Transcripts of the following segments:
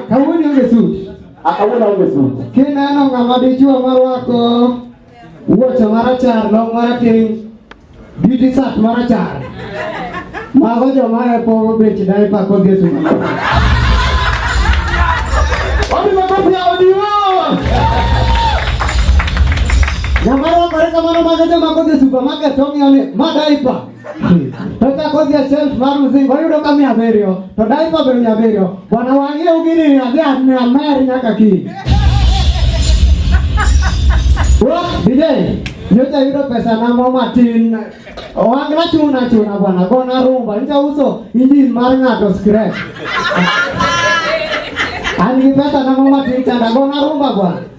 Kawuono onge suti. Akawuono onge suti. Kineno ng'ama dichuo marwako wuoche marachar long marateng' beauty sat marachar mago joma epo bech daipa kod yesu Nyamara kore kamano mago joma kodhi e supermarket ong'iyo ni ma daipa totakothia shelf mar mzingo oyudo ka mia abiriyo to daipa be mia abiriyo bwana wang'e ugini adhi mia mer nyaka kiny DJ nyocha yudo pesa na mo matin wang'na chuna chuna bwana gona rumba nyocha uso injin mar ng'ato scrap an gi pesa na mo matin chanda gona rumba bwana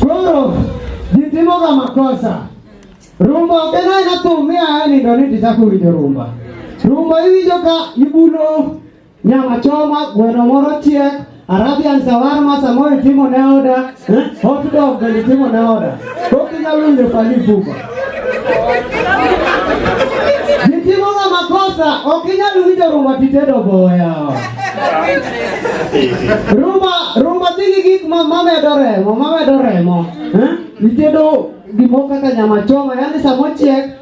Koro jitimoga makosa rumba okena ena thum miaye nindo ni tichako winjo rumba rumba iwinjo ka ibulo nyama choma gweno moro chiek arabian sawarma samoro itimo ne oda Eh? Hot dog alitimo na oda. Koki nyalo winjo fali buba. Nitimo nga makosa, ok inyal winjo rumba titedo boya. Rumba, rumba dhigi gik ma mamedo remo, mamedo remo. Eh? Itedo gimoko kaka nyama choma, yani samochiek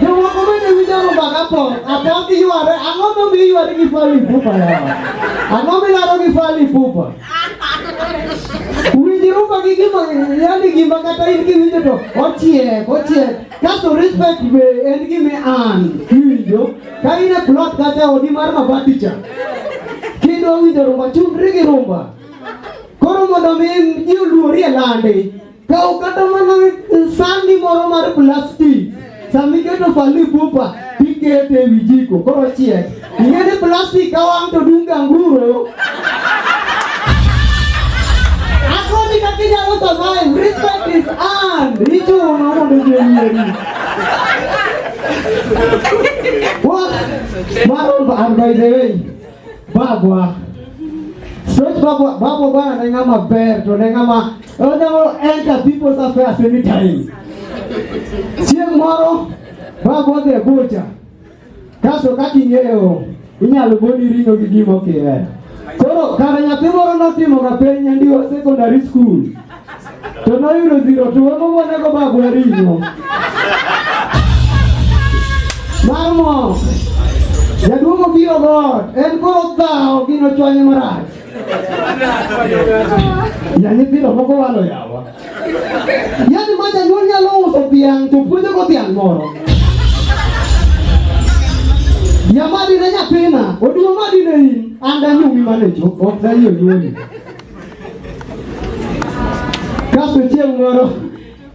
Jomoko bende winjo rumba ka pok, apok giyware, ang'o momiyo iyware gi Fally Ipupa yawa? Ang'o milaro gi Fally Ipupa? Winj rumba gi gima, yani gima kata in kiwinjo to ochiek, ochiek. Kasto respect be en gima an kiwinjo, ka in e plot kata odi mar mabati cha, kidwa winjo rumba, chungri gi rumba. Koro mondo mi ji oluori e landi, Ka ukata mana sandi moro mar plastik sama iketo fali pupa tikete e wi jiko koro chiek. Ing'e ni plastik ka wang' to dung' ganguro. Akoni kaka inyalo survive. Respect is earned. Ichuno mondo ji oyieri. What? Maroon, by the way. Bagwa. Straight Bagwa, Bagwa bwana na ngama ber to na ngama onyalo enter people's affairs anytime. Chieng' moro Bagwa dhi e bucha. Kaso kaka ing'eyo inyalo goni ring'o gi gima ok ihero. Koro kare nyathi moro notimoga penj nyandiwa secondary school to noyudo zero to wego monego bagwa ring'o mar mok jaduong' obiro god en koro dhawo gino chwanye marach ya nyithindo moko walo yawa yani ma janyuol nyalo uso dhiang' to puonjogo dhiang' moro nyamadine nyathina oduong' madine in an danyumi manecho ok dayie nyuoli Kasto chieng' moro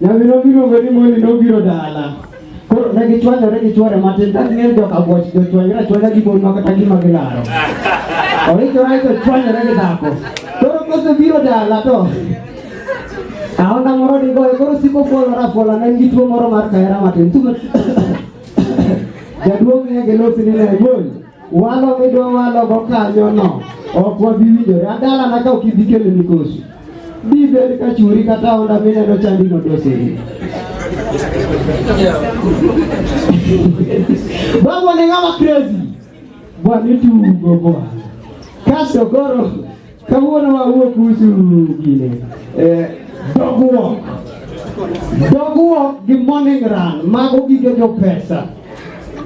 nyamino miluongo ni Moni nobiro dala. Koro ne gichwanyore gi chwore matin ka ging'eyo joka bwoch jochwanyore achwanya gi mon makata gima gilaro. Oikore aiko chwanyore gi dhako. Koro kosebiro dala to aonda moro digoye koro siko fuolore afuola ne en gi tuo moro mar kahera matin. Jaduong' ng'e gi losi ni ne bol. Walo midwa walo go kanyo no ok wabi winjore adala na ka ok ibi kelo mikosi bi bed ka churi kata onda mineno chandi no doseri Babu ni ng'ama crazy bwana itugo bwana kaso koro Kawuono wawuok usu gine. Eh, dogruok. Dogruok gi morning run mago gige jo pesa.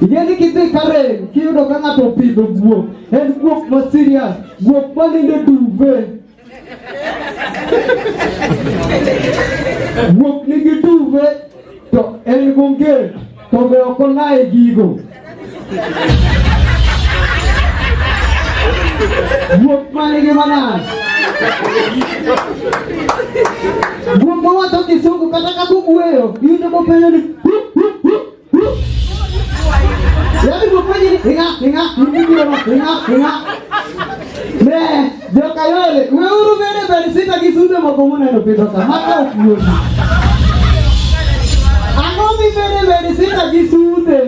Ingeni kidhi Karen kiyudo ka ng'ato opidho guok, en guok ma serious, guok ma nindo duve. Guok nigi duve to en gonge. To be ok olaye gigo. Guok mane gi manas. Guok mawacho kisungu kata ka kugweyo, iyudo kopenjo ni Yaani kwa kweli inga inga inga inga inga. Ne. Jokayole, weuru bende bed sita gi sude moko muneno pidho ka maka ok yot. Ang'o mibede bed sita gi sude?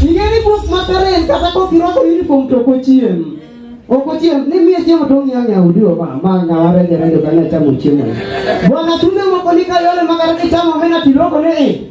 Ing'eni buk makare en kata kok irwako uniform to ok ochiem. Ok ochiem, ni miye chiemo to ong'iyo ng'e udi oba, ma ng'awa reje reje bang'e chamo chiemo. Bwana tunde moko ni kayole makare kichamo omena tiloko ni i.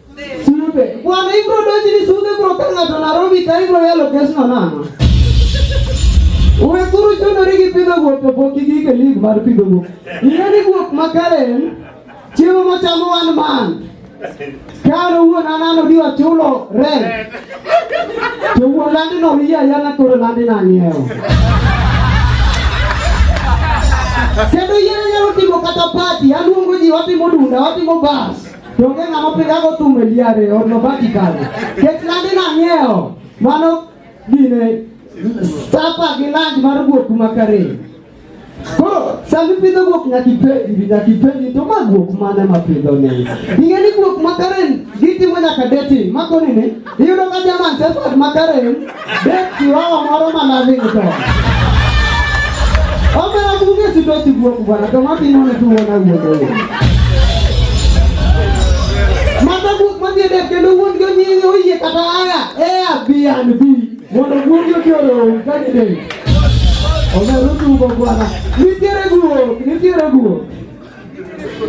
Sulupe. Bwana ibro doji ni sude bro tanga tona robi tai bro ya location na na. Uwe kuru chono rigi pido go to boki gi ke lig mar pido go. Ina ni go makare. Chiwo mo chamo wan man. Karo uwe na nano diwa chulo re. To uwe landi no hiya ya na kuru landi na nyeo. Kendo yeye yaro timo kata party, aluongo ji watimo dunda, watimo bas. To onge ng'ama opigago thum e liare or nobaki kare. Kech landi nang'iewo. Mano gine sapa gi land mar guok makare. Koro sama ipidho guok nyaka ipenji nyaka ipenji to ma guok mane mapidho ni. Ing'e ni guok makare gitimo nyaka dating. Makoni ni Iyudo ka jaman sesat makarem bet kiroho moro ma loving to. Omera kuge sito sibuok bwana to matimo ni tuwo na wuodo wuodo. Mata buok madhi dek kendo wuon go nyingi oyie kata aya ea bi an bi mondo wuon go kioro kani dek. Omera tuwo bwana. Nitiere guok, nitiere guok.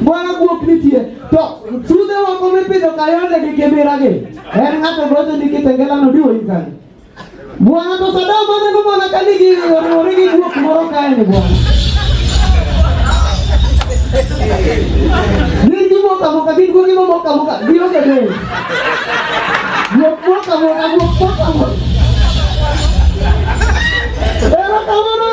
Bwana guok nitie to sudhe wako mipidho kayonde gi kibiragi en ng'ato gocho ni kitengelano diwo ikani bwana to sadam aneno mana ka nigi oriwore gi guok moro kaeni bwana gin gimoka moka gin guogi momoka moka gionge del guok moka moka guok moka moka erokamano